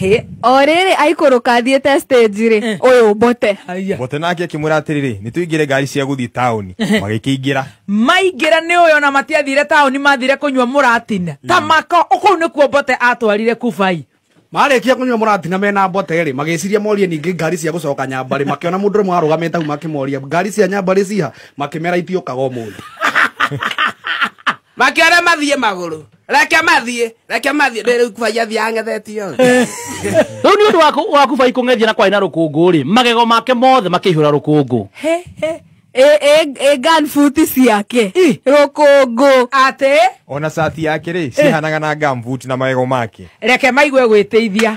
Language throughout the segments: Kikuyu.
Hĩ, o rĩrĩ aikũrũka athiĩte stage rĩ Eh. ũyũ mbote Aya. mbote nake akĩmwĩra atĩrĩrĩ nĩ tũingĩre ngari cia gũthiĩ taũni magĩkĩingĩra maingĩra nĩ ũyũ na matiathire taũni mathire kũnyua mũratina ta mako kũu nĩkuo mbote atwarire kubai marĩkia kũnyua mũratina mena mbote rĩ magĩciria morie ningĩ ngari cia gũcoka nyambarĩ makĩona mũndũ ũrĩmwe arũgamĩte hau makĩmoria ngari cia nyambarĩ ciha makĩmera itiũkaga ũmũthĩ makĩore mathiĩ magũrũ reke mathiĩ reke mathiĩ ndĩ rĩu kubai athiĩ ang'ethetio rĩu nĩ ũndũ waku- waku bai kũng'ethia na kwarĩ na rũkũngũ rĩ magego make mothe makĩihũra rũkũngũ ganbuti ciake rũkũngũ atĩ ona cati yake rĩ cihanaga na gambuti na magego make reke maigue gwĩteithia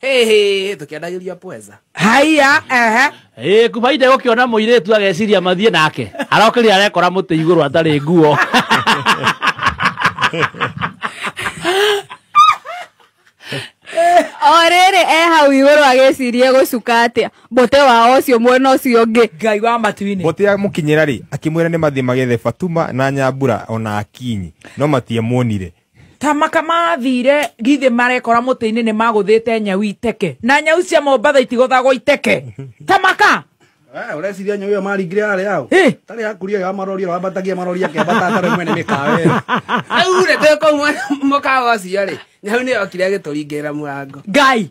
Hey, tukiandagĩria pweza haiya ehe Ĩ, kubaida gũkĩona mũirĩtu ageciria mathiĩ nake arokĩria arekora mũtĩ igũrũ atarĩ nguo o rĩrĩ e hau igũrũ agĩcirie gũcuka atĩa mbote wao ũcio mwena ũcio ũngĩ ngai wa matu-inĩ mbote amũkinyĩra rĩ akĩmwĩra nĩ mathiĩ magethe fatuma na nyambura ona akinyi no matiamuonire tamaka mathire githĩ marekora mũtĩ-inĩ nĩ magũthĩte nyau iteke na nyau cia mombatha itigũthagwo iteke tamaka Eh, ureciria nyau iyo maringire yare yao Eh. tari yakuria ya marori wambatagia marori akebata atare mwene mikawe aure te ko mwana mukawa cia ri nyau ni yokire agituringirira murango ngai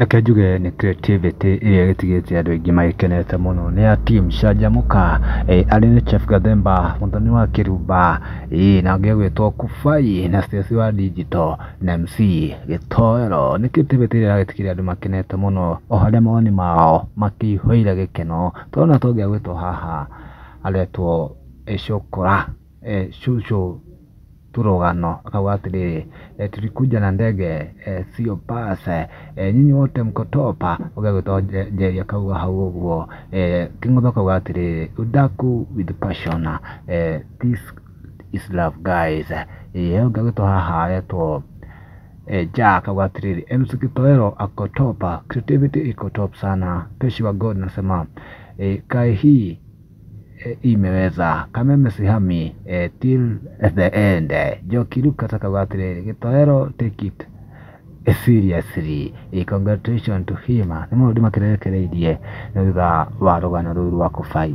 Reke njuge nĩ creativity ĩrĩa ĩgĩtigĩte andũ aingĩ magĩkenete mũno nĩ ya team Canjamũka, arĩ nĩ Chef Gathemba, Mũthoni wa Kĩrumba, ĩĩ na ũngĩ ũgwĩtwo Kubai na Stacy wa Digital na MC Gĩtoero. Nĩ creativity ĩrĩa ĩragĩtigĩrĩra andũ makenete mũno o harĩa mawoni mao makĩihũire gĩkeno. Tũrona ta ũngĩ agwĩtwo haha aretwo Icũkũra, Cucu. tũrũgano akauga atĩrĩrĩ e, tulikuja na ndege e, sio bus e, nyinyi wote mko top ũgĩa gwĩtwo Nje- njeri akauga hau ũguo e, kĩng'ũthũ akauga atĩrĩrĩ udaku with passion e, this is love guys e, ũngĩ agĩtwo haha aretwo e, ja akauga atĩrĩrĩ MC Kitoero ako top creativity iko top sana peshi wa God nasema e, kae hii imeweza kameme sihami eh, till the end eh. Njoki Luke akauga atĩrĩrĩ gĩtoero take it eh, seriously eh, congratulations to him nĩ maũndũ makĩrekereirie nĩ thutha wa rũgano rũu rwa kũbai